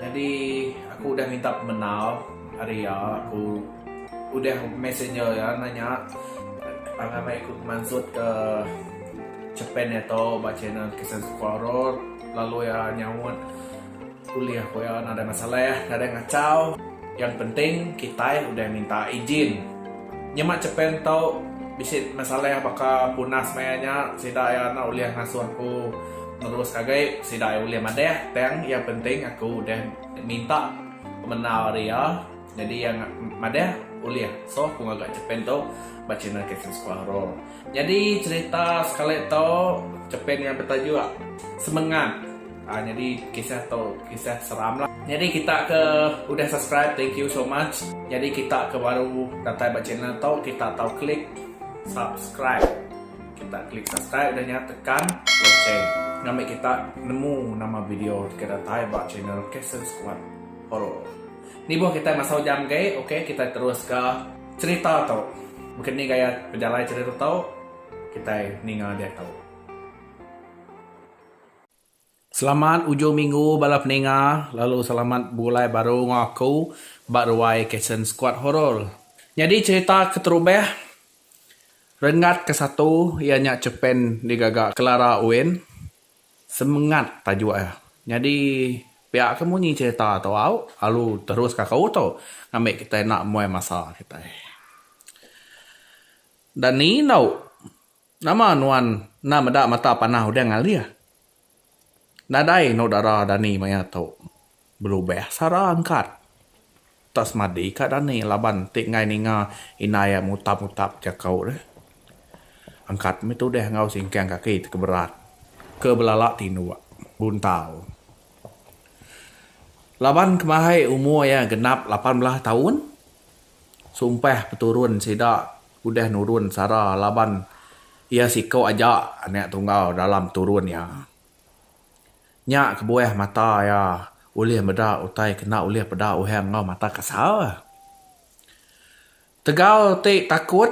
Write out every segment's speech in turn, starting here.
Jadi aku udah minta pemenal hari ya aku udah messenger ya nanya tangan mai ikut mansut ke Japan ya to ba channel kisah sekolah horor lalu ya nyaut kuliah ko ya ada masalah ya ada ngacau yang penting kita udah minta izin nyemak Japan to bisi masalah baka punas maya nya sida ya ulih ngasuh aku. Nerus ngagai sida iya ulih madah tang iya penting aku udah minta pemenau ari iya nyadi iya madah ulih so aku ngaga chepin tu ba channel Captain Squaro. Nyadi cherita sekali tu chepin iya betajuk semengat aaa nyadi kisah tu kisah seram lah. Nyadi kita ke udah subscribe thank you so much nyadi kita ke baru datai ba channel tu kita tau klik subscribe. Kita klik subscribe udah nya tekan lonceng ngambi kita nemu nama video ke datai ba channel Castle Squad Horror. Nibuh kita masa ujang agi ok kita terus ka cerita tu. Mungkin ni gaya pejalai cerita tu kita ninga diatu. Selamat ujung minggu bala peninga lalu selamat bebulai baru enggau aku ba ruai Cason Squad Horror. Nyadi cherita keterubah Renggat ke satu iya nya Cepen digaga Clara Owen. Semengat tajuk iya. Nyadi pia ke munyi cherita tu au alu terus ka aku tu ngambi kitai enda muai masa kitai. Dan ni endu. Nama nuan enda meda mata panah udah ngalih? Nadai eno dara dani maya tu. Belubah sara angkat. Tak semadi ka dani laban ti enggai ninga indai iya mutap-mutap jaku deh. Angkat mih tudah enggau singkang kaki ti keberat ke belala tinduk, buntau. Laban kemahai umur iya genap lapan belah taun, sumpah peturun sida. Udah nurun sara laban iya siku aja anak tunggal dalam turun iya. Nya kebuah mata iya ulih meda utai kena ulih peda uhang enggau mata kasar. Tegal ti takut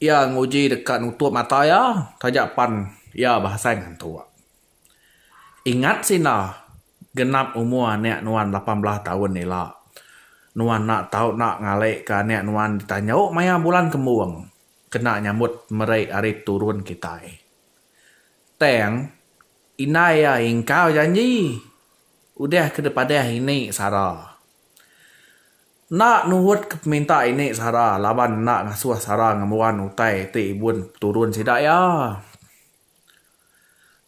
iya nguji deka nutup mata iya taja pan iya beasai ngantuk. Ingat sida. Genap umur anak nuan lapan belas taun ila, nuan enda tau enda ngalika anak nuan ditanjau maya bulan kembung kena nyambut meri ari turun kitai. Tang, indai iya ingkau janji udah ke dipadah ini sara. Enda nuhutka peminta ini sara laban enda ngasuh sara ngembuan utai ti ibun peturun sida iya.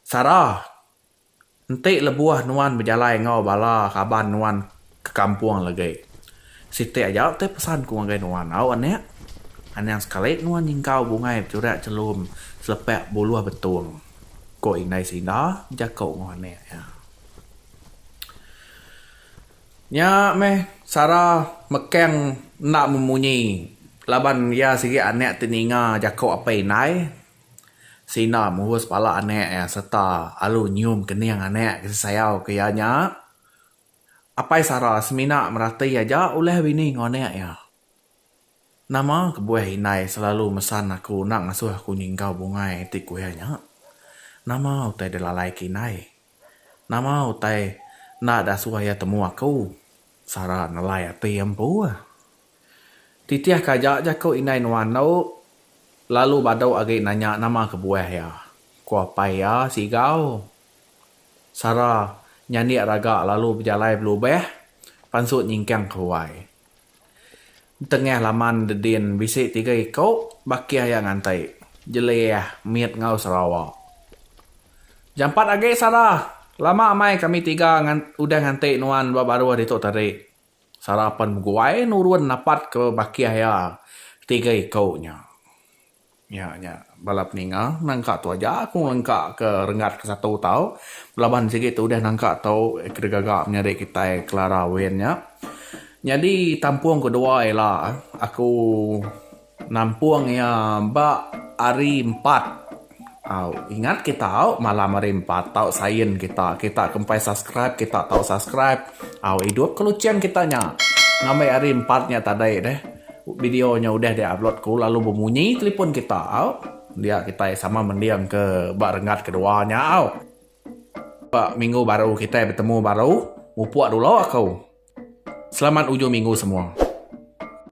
Sara. Enti lebuh nuan bejalai enggau bala raban nuan ke kampung legi, siti aja ti pesan ku ngagai nuan, Au anak, anang sekali nuan nyingkau bungai beturak chelum selepak buluh betung, ku Indai Sinda bejaku enggau anak iya. Nya meh Sara mekang enda memunyi laban iya sigi anak ti ninga jaku apai indai. Sina murus pala anak iya sereta alu nyium kening anak ke sisayau ke iya nya. Apai Sara semina merati aja ulah bini enggau anak iya. Nama kebuah indai selalu mesan aku enda ngasuh aku nyingkau bungai ti ku iya nya? Nama utai dilalai ke indai? Nama utai enda da suah iya temu aku? Sara nelai ati empu. Titih ka aja jaku indai nuan tu lalu badu agi nanya nama kebuah iya, ku apai iya Sigau. Sara nyandik raga lalu bejalai belubah pansut nyingkang ke huai. Entengah laman Dedin bisi tiga iko bakih iya nganti, Jelih, Mit enggau Sarawak. Jampat agi Sarah, lama amai kami tiga udah nganti nuan ba baruh ditu tadi. Sarah pen beguai nurun napatka bakih iya tiga iko nya. Nya nya bala peninga nangka tu aja aku ngelengka ke renggat ke satu tau belaban sigi tu udah nangka tu kedegaga menyadi kitai Clara Win nya nyadi tampung kedua ila aku nampung iya ba hari empat. Au ingat ke tau malam hari empat tau sign kita kita ke empai subscribe kita tau subscribe au idup ke lucheng kita nya ngambi hari empat nya tadai deh video nya udah di upload ku lalu bemunyi telefon kita au dia kitai sama mending ke ba renggat kedua nya au ba minggu baru kitai betemu baru mupuk dulu aku selamat ujung minggu semua.